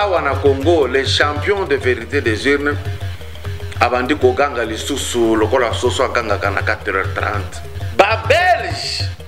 awa na congo les champions de vérité des urnes abandi koganga lisusu lokola soso agangaka na 4h30 babelge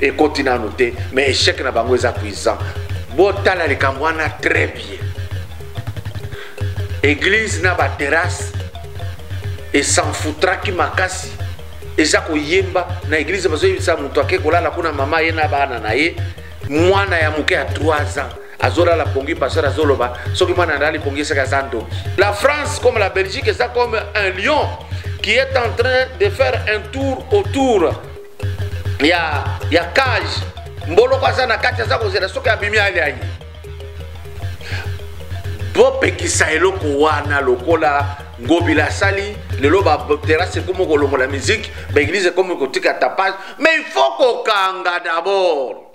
ekoti nanu te mais echec na bango eza cuisant botala likambo wana très bien église na baterrasse esanfutraki makasi eza koyemba na église bazoyebisa moto ake kolala kuna mama ye na bana na ye mwana ya moke ya 3 ans azolala pongi pasteur azoloba soki mwana alali pongi esaka aza ndoki la france comme la belgique eza comme un lion qui est en train de faire un tour autour ya ya cage mboloko aza na kati aza kozela soki abimi ale aye bopekisa eloko wana lokola ngobila asali lelo baterase ekomi kolongola miziki baeglize ekomi kotika tapage mais il faut kokanga d'abord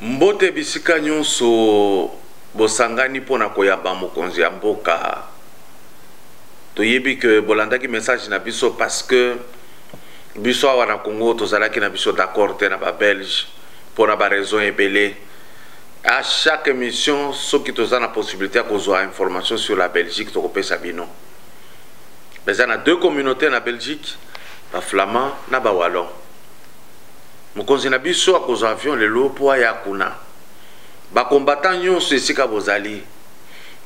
Mbote bisika nyonso bosangani mpo na koyamba mokonzi ya mboka. Toyebi que bolandaki message na biso parce que biso awa na Congo tozalaki na biso d'accord te na ba Belge mpo na ba raison ebele. À chaque émission soki toza na possibilité ya kozwa information sur la Belgique tokopesa bino. Eza na deux communautés na Belgique, ba Flamands na ba Wallons. Mokonzi na biso akozwa avion lelo mpo aya kuna. Ba combattants nyonso esika bozali,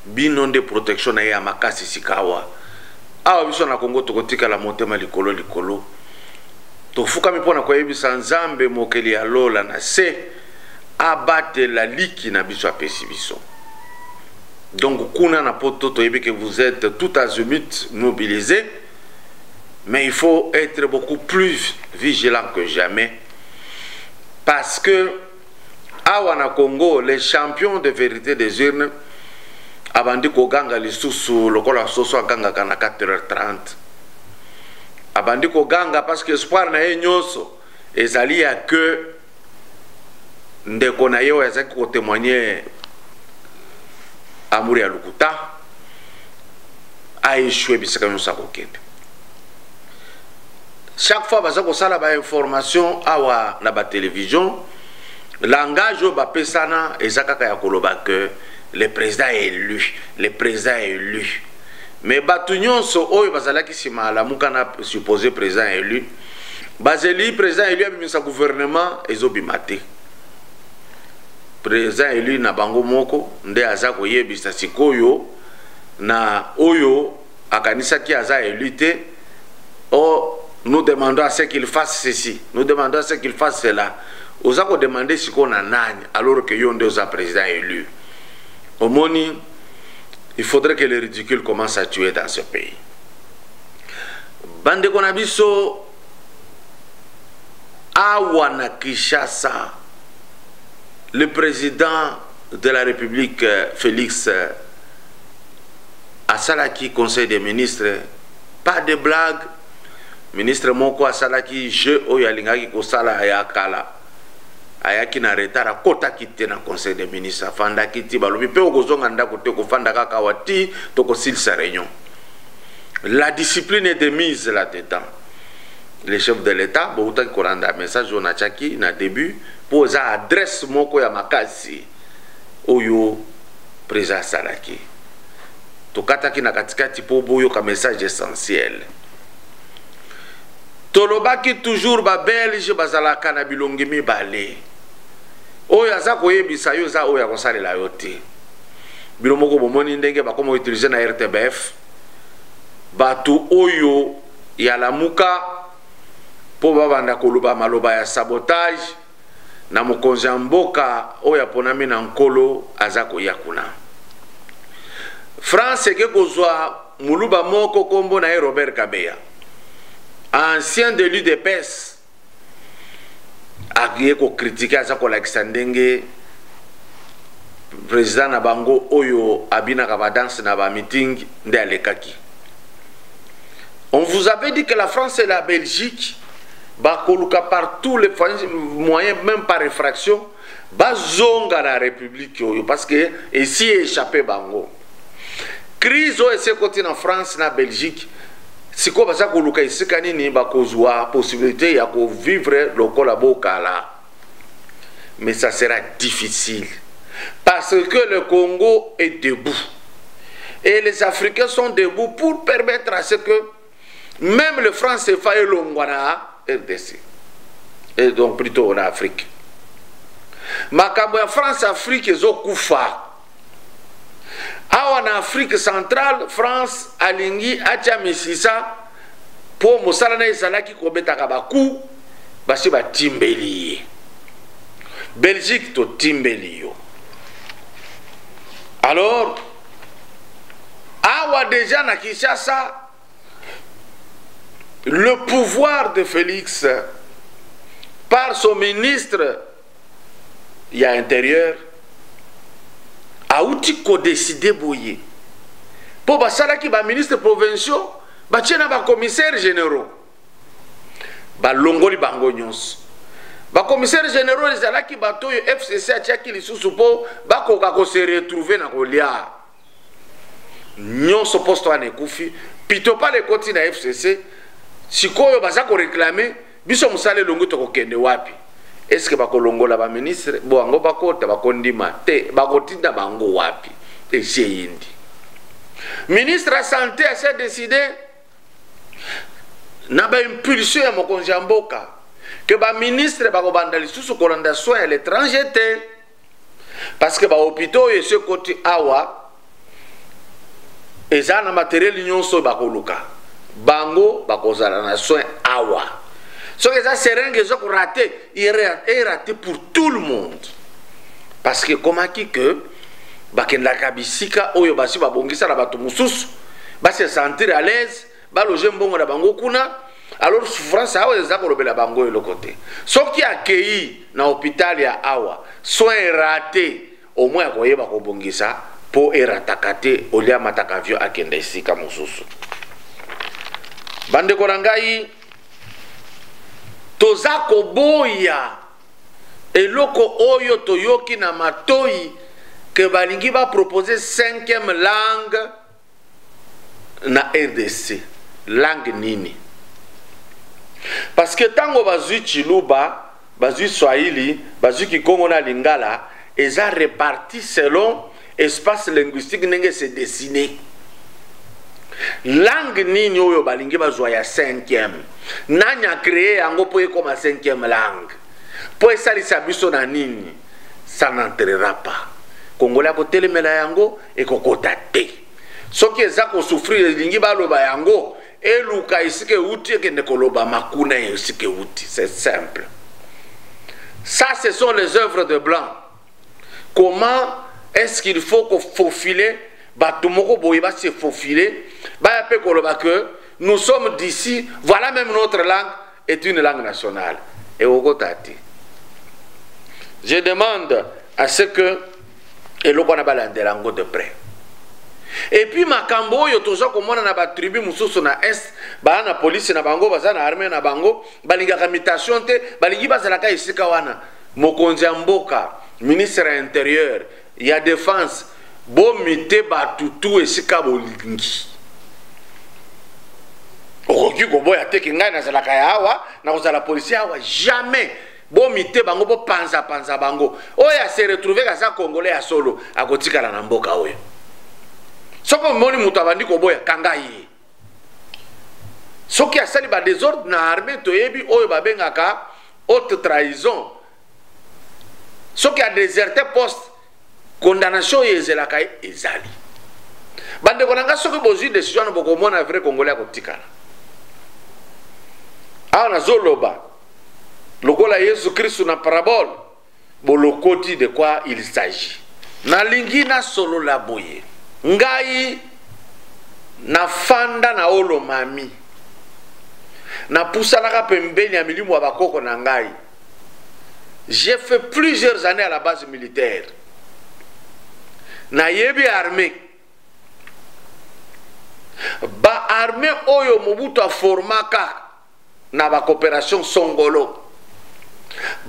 bino nde protection na ye ya makasi sikawa. Awa biso na Congo tokotikala motema likolo likolo. Tofukami mpo na koyebisa Nzambe mokeli ya lola na se abatela liki na biso apesi biso. Donc kuna na poto toyebi que vous êtes tout azimut mobilisés. Mais il faut être beaucoup plus vigilant que jamais. Parce que, awa na Congo, les champions de vérité des urnes, abandi koganga lisusu lokola soso agangaka na 4h30 abandi koganga parce que espoir na ye nyonso ezali ya ke ndeko na ye oyo azalaki kotemoigne amour ya lokuta aechue bisika nyonso akokende chaque fois baza kosala bainformation awa na batelevision langage oyo bapesana eza kaka ya koloba ke le président est élu le président est élu mais bato nyonso oyo bazalaki nsima alamuka na supposé président élu bazeli président élu abimisa gouvernement ezobima te président élu na bango moko nde aza koyebisa sikoyo na oyo akanisaki aza élu te o oh, nous demandons à ce qu'il fasse ceci nous demandons à ce qu'il fasse cela oza kodemande sikoyo na nani alors que yo nde oza président élu omoni il faudrait que le ridicule commence à tuer dans ce pays bandeko na biso awa na kinshasa le président de la république euh, félix euh, asalaki conseil des ministres pas de blague ministre moko asalaki jeu oyo alingaki kosala ya kala ayaki na retard akotaki te na conseil des ministres afandaki ti balobi mpe okozonga ndako te okofanda kaka wa ti tokosilisa réunion la discipline est de mise là dedans le chef de l'État boutaki kolanda message oyo natiaki na début mpo eza adresse moko ya makasi oyo président asalaki tokataki na katikati mpo boyoka message essentiel tolobaki toujours babelge bazalaka na bilongi mibale oyo aza koyebisa yo eza oyo akosalela yo te bino moko bomoni ndenge bakoma utilize na rtbf bato oyo ya lamuka mpo babanda koloba maloba ya sabotage na mokonzi ya mboka oyo aponami na nkolo aza koya kuna france eke kozwa moluba moko nkombo na ye robert kabeya ancien delu de pese aye kokritike aza kolakisa ndenge président na bango oyo abinaka badanse na bamiting nde alekaki on vous avait dit que la france et la belgique bakoluka par tous les moyens même par effraction bazonga na republiki oyo parce que esi echappe bango crise oyo esi ekoti na france na belgique sikoyo baza koluka esika nini bakozwa possibilité ya kovivre lokola bokala mais ça sera difficile parce que le congo est debout et les africains sont debout pour permettre à ce que meme le france efa elongwa na rdc et donc plutôt na afrique makambo ya france afrique ezokufa awa na afrique centrale france alingi atya misisa mpo mosala na ezalaki kobetaka baku basi batimbeli ye belgique totimbeli yo alors awa deja na kinshasa le pouvoir de félix par son ministre ya intérieur auti kodeside boye mpo basalaki baministre provinciaux batie na bacommissaire généraux balongoli bango nyonso bakomisere généraux ezalaki bato oyo fcc atiaki lisusu mpo bakoka kose retrouve na kolia nyonso poste wana ekufi pitopale ekoti na fcc sikoyo baza koreklame biso mosala elongi tokokende wapi eske bakolongola baministre bo yango bakota bakondima te bakotinda bango wapi esi eyindi ministre ya sante ase decide na baimpulsion ya mokonzi ya mboka ke baministre bakobanda lisusu kolanda soin ya l'étranger te parce que bahopitau oyo esi ekoti awa eza na materiel nyonso oyo bakoluka bango bakozala na soin awa soki eza serenge eza korate erate pour tout le monde parce que ekomaki que bakendaka bisika oyo basi babongisa na bato mosusu base sentir à l'aise baloge mbongo na bango kuna alors souffrance awa eza kolobela bango eloko te soki akei na hôpital ya awa soin erate omoi akoyeba kobongisa mpo erataka te olia amataka avio akenda esika mosusu bandeko na ngai toza koboya Eloko oyo toyoki na matoyi que balingi ba proposer cinquième langue na RDC. Langue nini? Parce que tango bazui Chiluba, bazui Swahili, bazui Kikongo na Lingala, eza reparti selon espace linguistique ndenge se dessiner langue nini oyo balingi bazwa ya cinquième nani acreye yango mpo ekoma cinquième langue mpo esalisa biso na nini ça n'entrera pas kongole akotelemela yango ekokota te soki eza kosouffrir elingi baloba yango eluka esika euti ekende kolobama kuna esika euti c'est simple ça ce sont les œuvres de blanc comment est ce qu'il faut ko faufiler bato moko boye ba se faufiler baya mpe koloba que nous sommes d'ici voilà même notre langue est une langue nationale ekokota te je demande à ce que eloko wana balandela yango de près epuis makambo oyo toza komona na batribu mosusu na est baa na polisi na bango baza na arme na bango balingaka mutation te balingi bazalaka esika wana Mokonzi ya mboka, ministre ya interieur, ya defense, bo mite batu tout esika bolingi. Okoki koboya te ke ngai nazalaka ya awa, nakozala policier awa jamais. Bo mite bango bo panza panza bango. Oya se retrouver kaza congolais ya solo, akotikala na mboka oyo. Soko moni mutu abandi koboya kanga ye. soki asali ba desordre na armée toyebi oyo babengaka haute trahison soki adeserte poste condamnation oyo ezelaka ye ezali bandeko na ngai soki bozwi décision wana bokomona vrai congolais akotikala awa nazoloba lokola yesu kristu na parabole bolokoti de quoi il s'agit nalingi nasolola boye ngai nafanda na olomami napusanaka pembeni ya milimu ya bakoko na ngai j'ai fait plusieurs années à la base militaire nayebi armée baarme oyo mobutu aformaka na ba coopération songolo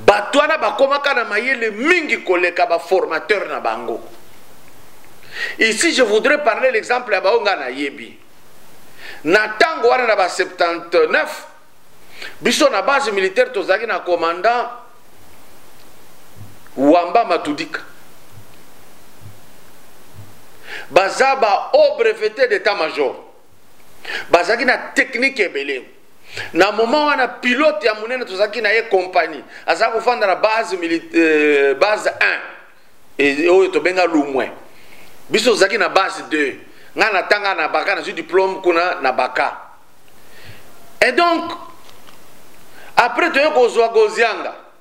bato wana bakomaka na mayele mingi koleka baformateur na bango ici je voudrais parler l'exemple ya baoyo ngai nayebi na ntango wana na ba 79 biso na base militaire tozalaki na commandant wamba matudika baza ba haut breveté d'état major bazalaki na teknike ebele na moment wana pilote ya monene tozalaki na ye kompani aza kofanda na base, euh, base 1 oyo tobenga lumwe biso tozalaki na base 2 ngai natanga na baka nazwi diplome kuna na baka et donc après toye kozwa gozianga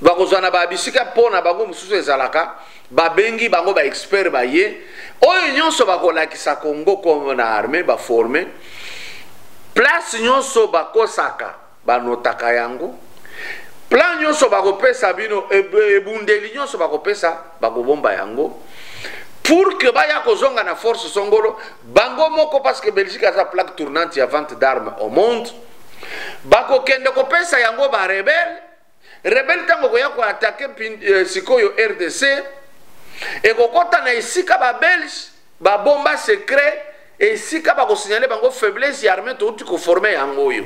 bakozwa na babisika mpo na bango mosusu ezalaka babengi bango baexpert baye oyo nyonso bakolakisa congo kongo na arme baforme place nyonso bakosaka banotaka yango plan nyonso bakopesa bino ebundeli nyonso bakopesa bakobomba yango pour que baya kozonga na force songolo bango moko parce que belgique aza plaque tournante ya vente d'arme au monde bakokende kopesa yango barebele rebele ntango ekoya koatake eh, sikoyo rdc ekokɔta na esika babelge babomba secret esika bakosignale bango faiblesse ya armée touti koforme yango oyo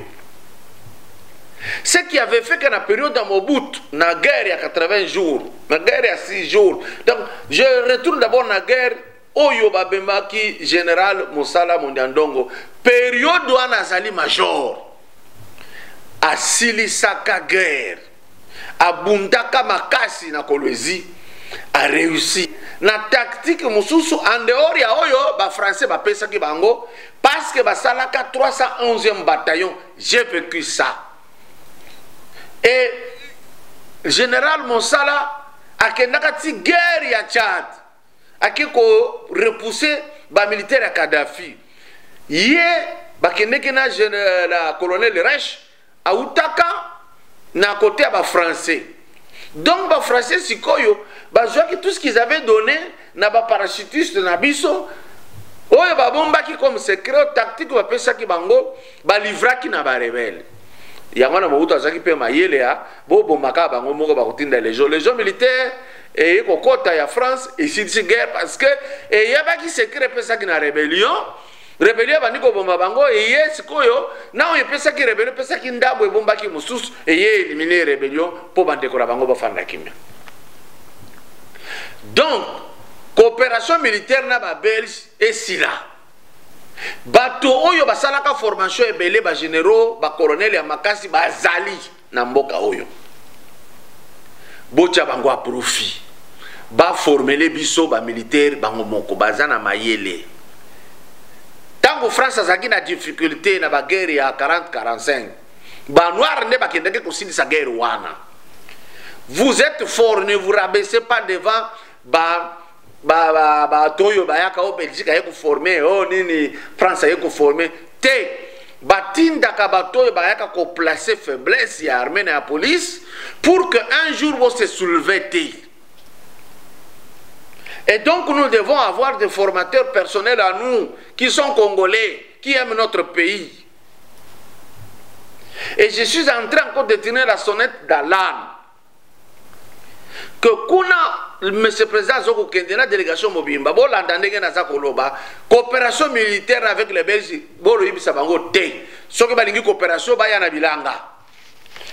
ce qui avait fait que na période ya mobutu na guerre ya 80 jours na guerre ya 6 jours donc je retourne d'abord na guerre oyo babemaki general mosala mondiandongo periode wana azali major asilisaka guerre abundaka makasi na kolwezi areussi na tactique mosusu en dehors ya oyo bafrançais bapesaki bango parce que basalaka 311e bataillon j'ai vécu ça et général mosala akendaka ti guerre ya tchad ake ko repousser ba militaire ya Kadhafi ye bakendeke na, euh, na colonel Reich autaka na kote ya ba français donc ba français sikoyo bazwaki tout ce qu'ils avaient donné na ba parachutiste na biso oyo babombaki comme secret tactique bapesaki bango balivraki na barebele yango na mobutu azalaki mpe mayele ya bobomaka bango moko bakotinda legio legio militaire eye kokota ya france esilisi guerre parce que eyebaki secret epesaki na rebellion rebellion ebandi kobomba bango eye sikoyo na oyo epesaki rebellion epesaki ndambo ebombaki mosusu eye elimine rebellion mpo bandeko na bango bafanda kimia donc coopération militaire na babelge esila bato oyo basalaka formation ebele bagénéraux bacolonel ya makasi bazali na mboka oyo botya bango a profit baformele biso bamilitaire bango moko baza na mayele ntango france azalaki na difficulté na baguerre ya 4045 banoire nde bakendaki kosilisa guerre wana vous êtes fort ne vous rabaissez pas devant ba ba ba ba toyo bayaka o belgique aye koforme o oh, nini france aye koforme te batindaka bato oyo bayaka koplace faiblesse ya armée na ya police pour que un jour bose souleve te et donc nous devons avoir des formateurs personnels à nous qui sont congolais qui aiment notre pays et je suis en train encore de tenir la sonnette d'alarme que kuna monsieur président azo kokende na délégation mobimba bolanda ndenge naza koloba coopération militaire avec les belges boloyebisa bango te soki balingi coopération baya na bilanga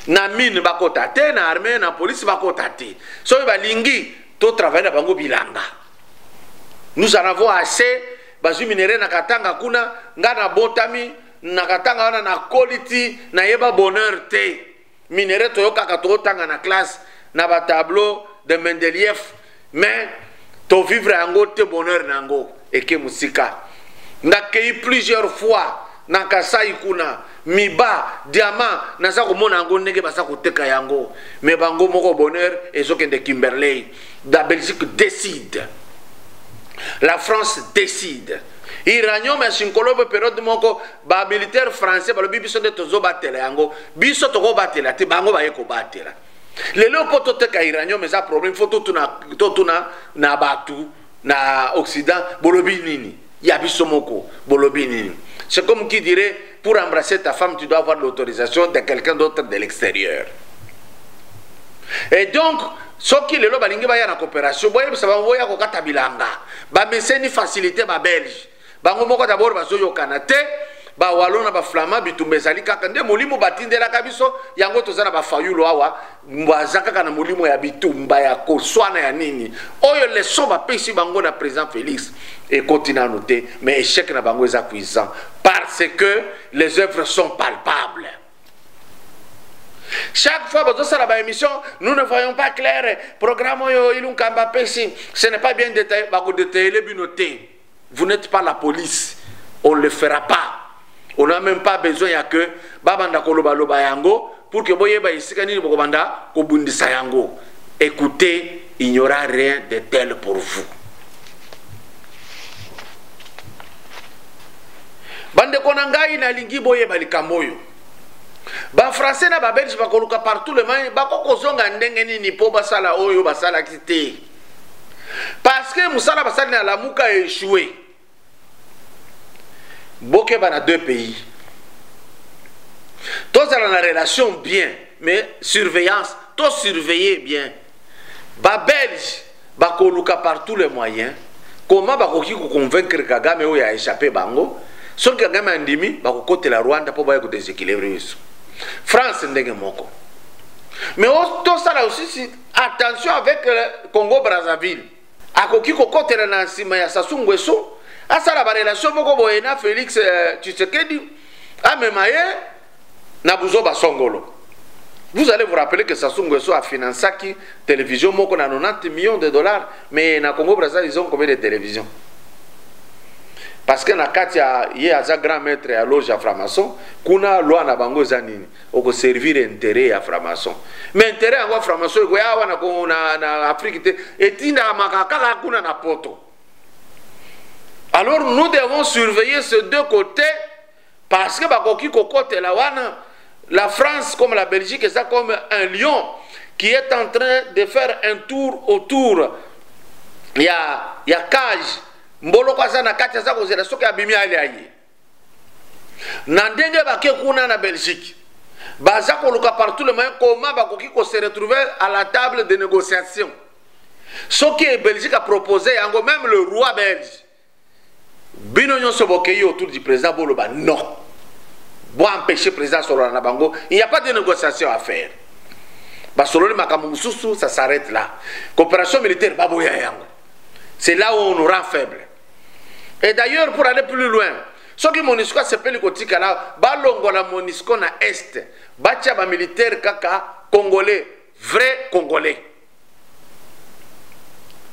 na mine bakota te na armée na police bakota te soki balingi totravaille na bango bilanga nous en avons assez bazwi minere na katanga kuna ngai nabotami na katanga wana nakoli ti nayeba bonheur te minere toyokaka totanga na classe na batableau de mendelief mais tovivre yango te bonheur na yango eke mosika nakei plusieurs fois na kasai kuna miba diamant naza komona yango ndenge baza koteka yango me bango moko bonheur ezokende kimberley la belgique décide la france décide iranium ya sinkolobe periode moko ba militaire français balobi biso nde tozobatela yango biso tokobatela te bango baye kobatela lelo mpo toteka iranium eza problème fo totuna, totuna na bato na occident bolobi nini ya biso moko bolobi nini c'est comme qui dirait pour embrasser ta femme tu dois avoir l'autorisation de quelqu'un d'autre de l'extérieur et donc soki lelo balingi baya na coopération boyebisa bango boya kokata bilanga bameseni facilité babelge bango moko dabord bazoyokana te bawalo na baflama bitumba ezali kaka nde molimo batindelaka biso yango toza na bafayulu awa baza kaka na molimo ya bitumba ya koswana ya nini oyo leson bapesi bango na président félix ekoti nano te mais échec na bango eza cuisant parce que les œuvres sont palpables chaque fois bozosala baémission nous ne voyons pas clair programme oyo ilunkamba apesi ce n'est pas bien détaillé bakodetaille bino te vous n'êtes pas la police on le fera pas on n'a même pas besoin ya que babanda kolobaloba yango pour que boyeba esika nini bokobanda kobundisa yango écoutez il n'y aura rien de tel pour vous bandeko na ngai nalingi boyeba likambo oyo bafrançais na babelge bakoluka partout le mai bakokozonga ndenge nini mpo basala oyo basalaki te parce que mosala basali na lamuka echoue bokeba na deux pays tozala na relation bien mais surveillance to surveiller bien babelge bakoluka par tous les moyens comment bakoki koconvaincre kagame oyo ya échappe bango soki kagame andimi bakokotela rwanda mpo baya kodeséquilibre biso france ndenge moko mais tosala osisi attention avec euh, congo brazzaville akoki kokotela na nsima ya sasu ngweso asala barelation moko boye na félix euh, tshisekedi amema ye na buzoba songolo Vous allez vous rappeler que Sassou Nguesso a financé qui télévision moko na 90 millions de dollars, mais na Congo Brazza ils ont combien de télévisions Parce que na Katia ye aza grand maître ya loge ya franc-maçon, kuna loi na bango eza nini oko servir intérêt ya franc-maçon mais intérêt yango ya franc-maçon ekoya awa na, na, na afrique te etindakamaka kaka kuna na poto alors nous devons surveiller ce deux côtés parce que bakoki kokotela wana la france comme la belgique eza comme un lion qui est en train de faire un tour autour ya, ya cage mboloko aza na kati aza kozela soki abimi alia ye na ndenge bake kuna na belgique baza koluka partout le moyen koma bakoki ko se retrouver à la table de négociation soki belgique apropose yango même le roi belge bino nyonso bokei autour du président boloba non boempêche président asolola na bango il n'y a pas de négociation à faire basololi makambo mosusu ça s'arrête là coopération militaire baboya yango c'est là où on nous rend faible et d'ailleurs pour aller plus loin soki monisco asepeli kotikala balongola monisco na est batya bamilitaire kaka congolais vrai congolais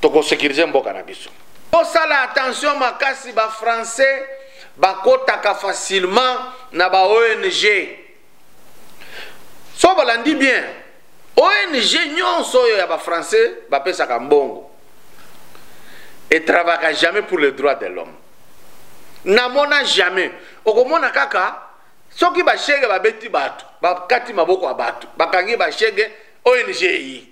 tokosekirize mboka na biso tosala attention makasi bafrançais bakotaka facilement na baong so balandi bien ong nyonso oyo ya bafrançais bapesaka mbongo etravaka jamais pour le droit de l'homme namona jamais okomona kaka soki bashege babeti bato bakati maboko ya bato bakangi bashege ong eyi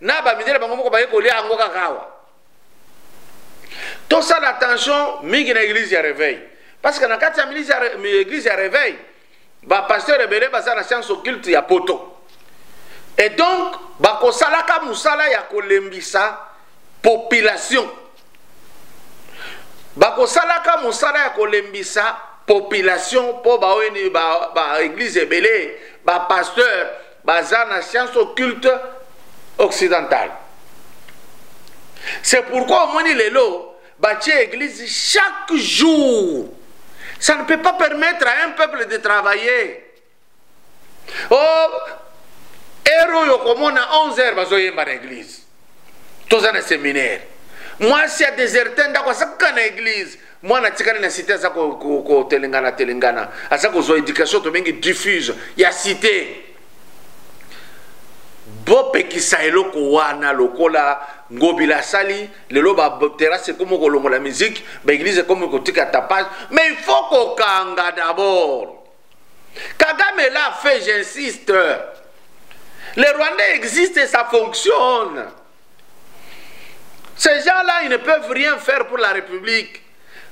na bamindele bango moko baye kolia yango kaka awa tosala attention mingi na église ya réveil parce que na kati ya église ya réveil bapasteur ebele baza na science occulte ya poto et donc bakosalaka mosala ya kolembisa population bakosalaka mosala ya kolembisa population mpo baoyeni baeglise ba ebele bapasteur baza na science occulte occidentale c'est pourquoi omoni lelo batie église chaque jour ça ne peut pas permettre à un peuple de travailler oh heure oyo okomona 11 heure bazoyemba na église toza na séminaire mwasi ya deserte ndako asaka na église mwana atikali na site aza kotelengana ko, ko, telengana aza kozwa éducation tobengi diffuse ya site bopekisa eloko wana lokola ngobila asali lelo baterase ekomi kolongola miziki baeglize ekomi kotika tapage mais il faut kokanga d'abord kagame la fait j'insiste le rwandais existe ça fonctionne Ces gens-là, ils ne peuvent rien faire pour la République.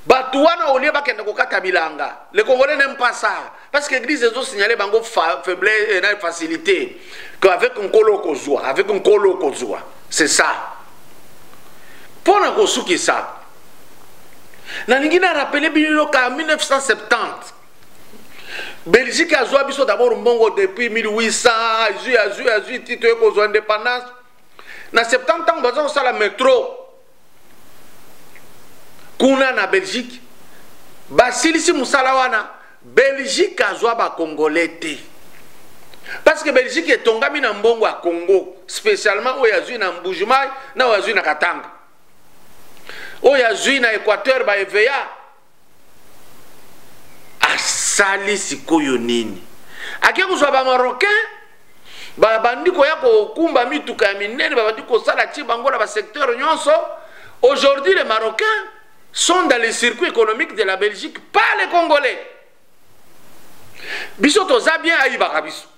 Batouana, au lieu de kokata bilanga, les Congolais n'aiment pas ça. Parce que l'église a signalé bango faiblesse et euh, facilité. Qu'avec un colo kozua, avec un colo kozua. C'est ça. Pour na kosuki ça. Na lingi na rappelé bino en 1970. Belgique a zua biso d'abord mbongo depuis 1800, azui azui azui titre kozua indépendance. na 70 ntango baza kosala metro kuna na belgique basilisi mosala wana belgique azwa bacongolais te parce que belgique etongami na mbongo ya congo spécialement oyo azwi na mbujumai na oyo azwi na katanga oyo azwi na équateur baeveya asali sikoyo nini ake kozwa bamarocain babandi koya kokumba mituka ya minene babandi kosala ti bango na basecteur nyonso aujourd'hui les marocains sont dans le circuit économique de la belgique pas les congolais biso toza bien ayibaka biso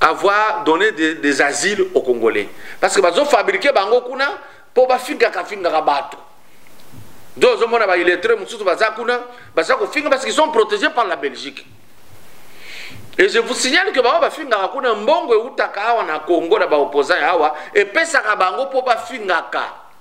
avoir donné des, des asiles aux Congolais. Parce que bazo fabriquer bango kuna po ba finga ka finga ka bato. Donc zo mona ba illettrés mususu baza kuna baza ko finga parce qu'ils sont protégés par la Belgique. Et je vous signale que bango ba finga ka kuna mbongo eutaka awa na Congo na ba opposants awa et pesa ka bango po ba finga ka.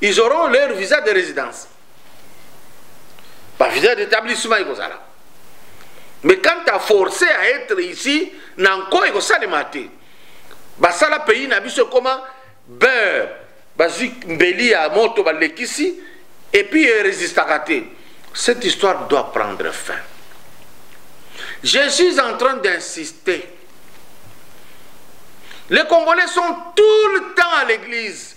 ils auront leur visa de résidence bavisa d'établissement ekozala mais quand à forcer à être ici na nko ekosalema te basala pays na biso ekoma beurre bazwi mbeli ya moto balekisi epuis erésistaka te cette histoire doit prendre fin je suis en train d'insister les congolais sont tout le temps à l'église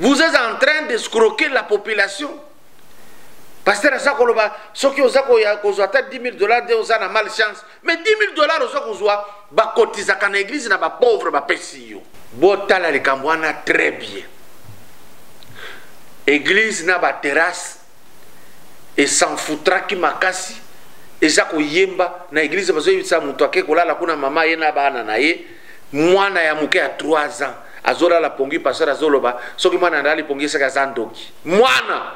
vous êtes en train de scroquer la population pasteur aza koloba soki oza koya kozwa ata 10 000 dollars nde oza na mal chance mais 10 000 dollars oza kozwa bakotizaka na eglize na bapauvre bapesi yo botala likambo wana très bien eglize na baterrasse esanfutraki makasi eza koyemba na eglize bazoyebisa moto ake kolala kuna mama ye na bana na ye mwana ya moke ya 3 ans azolala pongi pasteur azoloba soki mwana andali pongi esaka aza ndoki mwana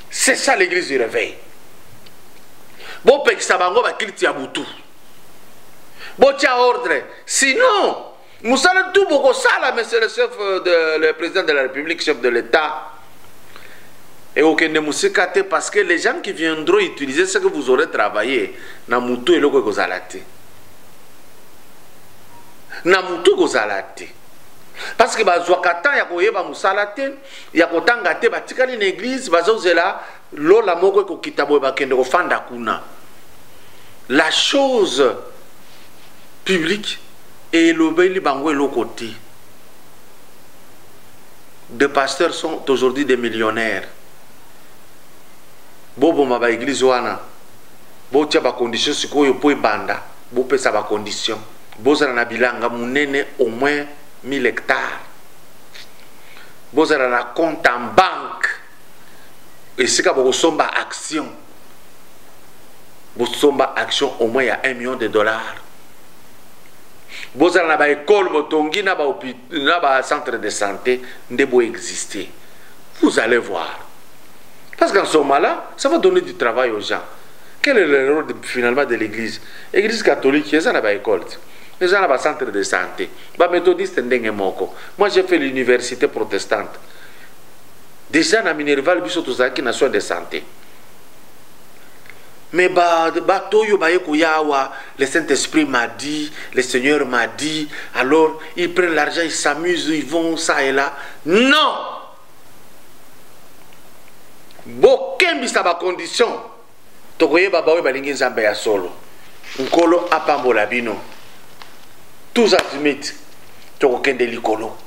c'est ça l'église du réveil bopekisa bango bakiliti ya butu botya ordre sinon mosala tu bokosala monsieur le chef euh, de le président de la république chef de l'état Et au Kende Moussekate, parce que les gens qui viendront utiliser ce que vous aurez travaillé, na mutu eloko ekozala te. Na mutu ekozala te. Parce que bazwaka temps ya koyeba musala te, ya kotanga te, batikali na église, bazozela lola moko ekokita boye bakende kofanda kuna la chose publique elobeli bango eloko te de pasteurs sont aujourd'hui des millionnaires boboma baeglise wana botya bacondition sikoyo mpo ebanda bopesa bacondition bozala na bilanga monene au moins 1000 hectare bozala na compte en banque esika bokosomba action bosomba action au moins ya 1 million de dollars bozala na baekole botongi na bacentre de santé nde boexiste vous allez voir parce qu'en ce moment là ça va donner du travail aux gens quel est le rôle de, finalement de l'église église catholique eza na baekole te eza na bacentre de santé baméthodiste ndenge moko moi j'ai fait l'université protestante deja na minerval biso tozalaki na soin de santé mais bato oyo baye koya awa le saint esprit m'a dit le seigneur m'a dit alors ils prennent l'argent ils s'amusent ils vont ça et là non bokembisa bacondition tokoyeba baoyo balingi nzambe ya solo nkolo apambola bino tous azimite tokokende likolo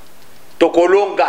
tokolonga